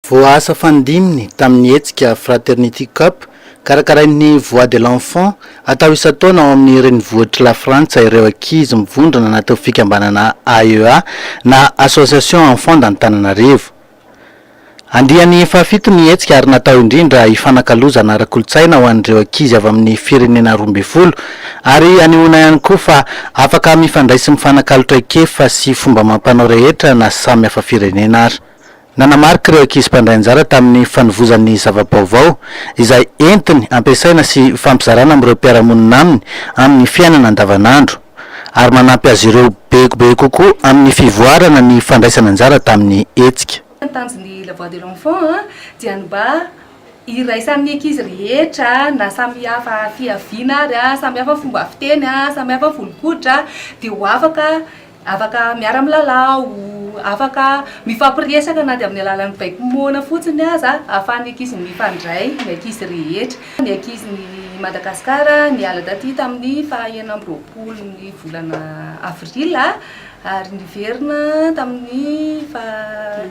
Voaasa fandiminy tamin'ny hetsika Fraternity Cup karakarain'ny Voix de l'Enfant atao isan-taona ao amin'ny renivohitr'i Lafrantsa ireo ankizy mivondrona anatin'ny fikambanana AEA na Association Enfants d'Antananarivo. Andiany fahafito ny hetsika ary natao indrindra hifanakalozana ara-kolontsaina ho an'ireo ankizy avy amin'ny firenena roa ambin'ny folo ary hanehoana ihany koa fa afaka mifandray sy mifanakalo traikefa sy fomba amam-panao rehetra na samy hafa firenena ary. Nanamarika ireo ankizy mpandray anjara tamin'ny fanovozan'ny zava-baovao izay entiny ampiasaina sy ifampizarana amin'ireo mpiara-monina aminy amin'ny fiainana andavanandro, ary manampy azy ireo be be kokoa amin'ny fivoarana ny fandraisana anjara tamin'ny hetsika. Ny tanjon'ny La Voix de l'Enfant dia ny mba hiraisan'ny ankizy rehetra na samy hafa fihaviana ary, samy hafa fomba fiteny, samy hafa volon-koditra dia ho afaka afaka miara-milalao, afaka mifampiresaka na dia amin'ny alalan'ny baiko moana fotsiny aza ahafahan'ny ankizy mifandray ny ankizy rehetra. Ny ankizin'i Madagasikara niala taty tamin'ny faha enina amby roapolon'ny volana avril ary niverina tamin'ny faha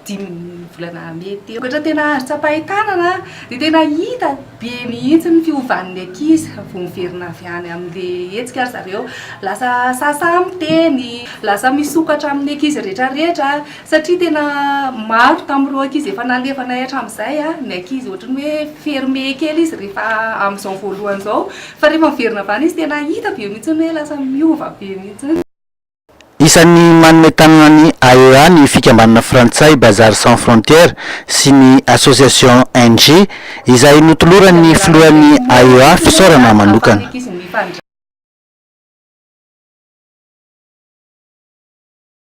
dimin'ny volana mey teo. Vokatra tena azo tsapain-tanana dia tena hita be mihitsy ny fiovan'ny ankizy vao miverina avy any amin'ilay hetsika ry zareo. Lasa sasa miteny, lasa misokatra amin'ny ankizy rehetrarehetra. Satria tena maro tamin'ireo ankizy efa nalefanay hatramin'izay ny ankizy ohatran'ny hoe fermé kely izy rehefa amin'izao voalohany izao. Fa rehefa miverina avy any izy tena hita be mihitsy hoe lasa miova be mihitsy. Isan'ny manome tanana ny AEA ny fikambanana frantsay Bazar Sans Frontières sy ny Association NG izay notoloran'ny filohan'ny AEA fisaorana manokana.